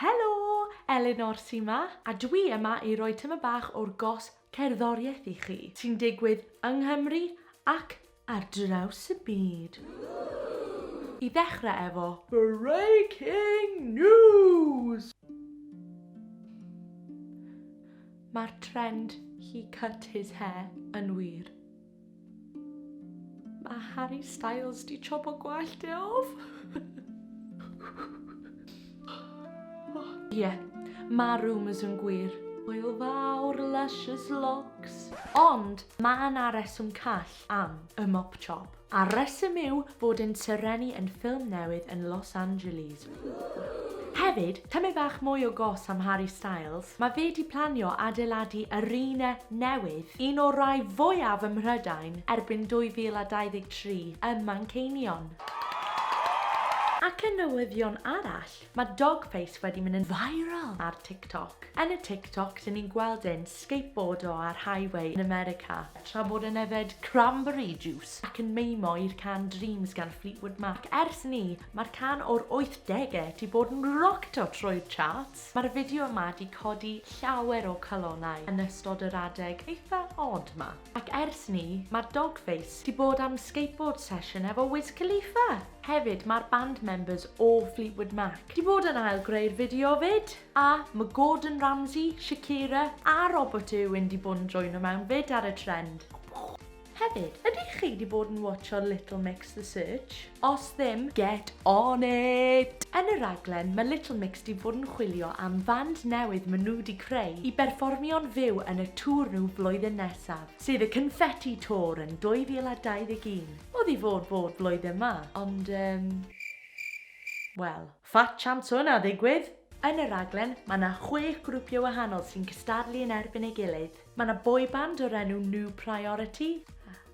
Helo! Elinor sy 'ma, a dwi yma i roi tyma bach o'r gos cerddoriaeth i chi, sy'n digwydd yng Nghymru ac ar draws y byd. I ddechrau efo breaking news! Mae'r trend he cut his hair yn wir. Mae Harry Styles di chopo gwallt e off. Ie, mae rumours yn gwir. Hwyl fawr, luscious locks. Ond mae yna reswm call am y mop chop. A'r reswm yw fod yn Serenni yn ffilm newydd yn Los Angeles. Hefyd, tymed bach mwy o gos am Harry Styles, mae fe 'di planio adeiladu arena newydd, un o'r rai fwyaf ym Mhrydain, erbyn 2023 ym Manceinion. Ac yn newyddion arall, mae dog face wedi mynd yn viral ar TikTok. Yn y TikTok, dyn ni'n gweld e'n skateboardo ar highway yn America, tra bod e'n yfed cranberry juice ac yn meimo i'r can Dreams gan Fleetwood Mac. Ers 'ny, Mae'r can o'r wythdege 'di bod yn rocto trwy'r charts. Mae'r fideo yma 'di codi llawer o calonnau yn ystod yr adeg eitha odd 'ma. Ac ers 'ny, mae'r Dogface 'di bod am skateboard session efo Wiz Khalifa! Hefyd, mae'r band members o Fleetwood Mac 'di bod yn ail greu'r fideo 'fyd! A ma' Gordon Ramsay, Shakira a Robert Irwin 'di bod yn joino mewn 'fyd ar y trend. Hefyd, ydych chi wedi bod yn watsho Little Mix The Search? Os ddim, get on it! Yn y rhaglen, mae Little Mix wedi bod yn chwilio am fand newydd maen nhw wedi creu i berfformio'n fyw yn y tour nhw flwyddyn nesaf, sef y Confetti Tour yn 2021. Oedd i fod bod blwyddyn 'ma, ond yym, wel. Fat chance o hynna ddigwydd! Yn y rhaglen, mae 'na chwech grwpio wahanol sy'n cystadlu yn erbyn ei gilydd. Mae 'na boyband o'r enw New Priority,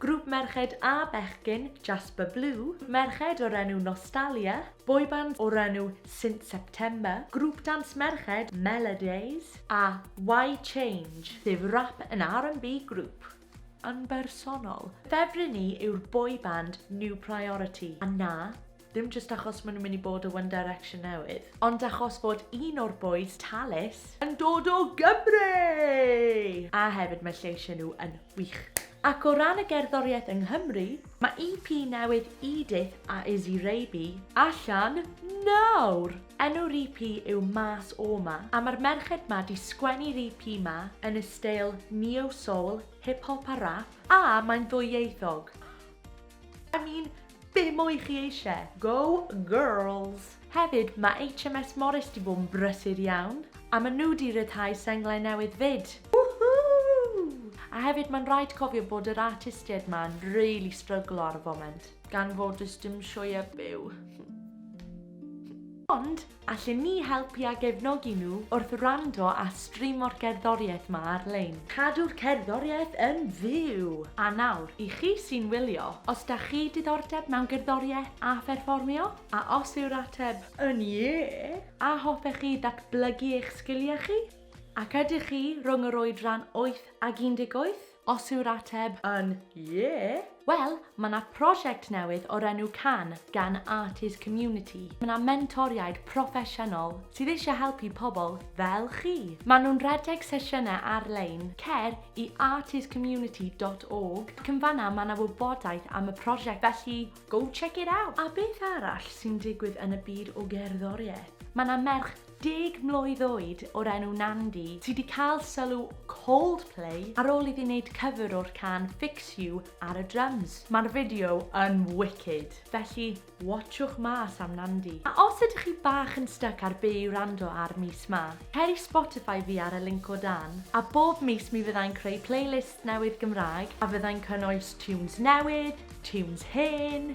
grŵp merched a bechgyn, Jasper Blue, merched o'r enw Nostalia, boyband o'r enw Since September, grŵp dance merched, Melodays, a Why Change, sef rap and RnB grŵp yn bersonol. Ffefryn i yw'r boyband New Priority, a na, Dim jyst achos maen nhw'n mynd i bod o One Direction newydd, ond achos bod un o'r bois, Tallis, yn dod o Gymru! A hefyd mae lleisiau nhw yn wych. Ac o ran y gerddoriaeth yng Nghymru, mae EP newydd Edith a Izzy Raby allan nawr! Enw'r EP yw Mas O 'Ma, a mae'r merched 'ma 'di sgwennu'r EP 'ma yn y steil neo-soul, hip-hop a rap, a mae'n ddwyieithog. I mean, Be mwy chi eisiau? Go girls! Hefyd, mae HMS Morris 'di bod yn brysur iawn. A maen nhw 'di rhyddhau senglau newydd 'fyd! Woohoo! A hefyd mae'n rhaid cofio bod yr artistiaid 'ma yn rili stryglo ar y foment. Gan fod does dim sioeau byw. Ond, Allen ni helpu a gefnogi nhw wrth wrando a streamo'r cerddoriaeth 'ma ar-lein. Cadw'r cerddoriaeth yn fyw! A nawr, i chi sy'n wylio, os da chi diddordeb mewn gerddoriaeth a pherfformio? A os yw'r ateb yn ie! A hoffech chi ddatblygu eich sgiliau chi? Ac ydych chi rhwng yr oedran wyth ag 18? Os yw'r ateb yn Ie! Wel, mae 'na prosiect newydd o'r enw Can gan Arties Community. Mae 'na mentoriaid proffesiynol sydd eisiau helpu pobl fel chi. Maen nhw'n rhedeg sesiynau ar-lein, cer i artiescommunity.org ac yn fan'na mae 'na wybodaeth am y prosiect, felly go check it out! A beth arall sy'n digwydd yn y byd o gerddoriaeth? Mae 'na merch Deg mlwydd oed o'r enw Nandy sy 'di cael sylw Coldplay ar ôl iddi wneud cover o'r can Fix You ar y drums. Mae'r fideo yn wicked, felly watsiwch mas am Nandy. A os ydych chi bach yn styc ar be i wrando ar mis 'ma, cer i Spotify fi ar y linc o dan, a bob mis mi fyddai'n creu playlist newydd Gymraeg a fyddai'n cynnwys tunes newydd, tunes hen,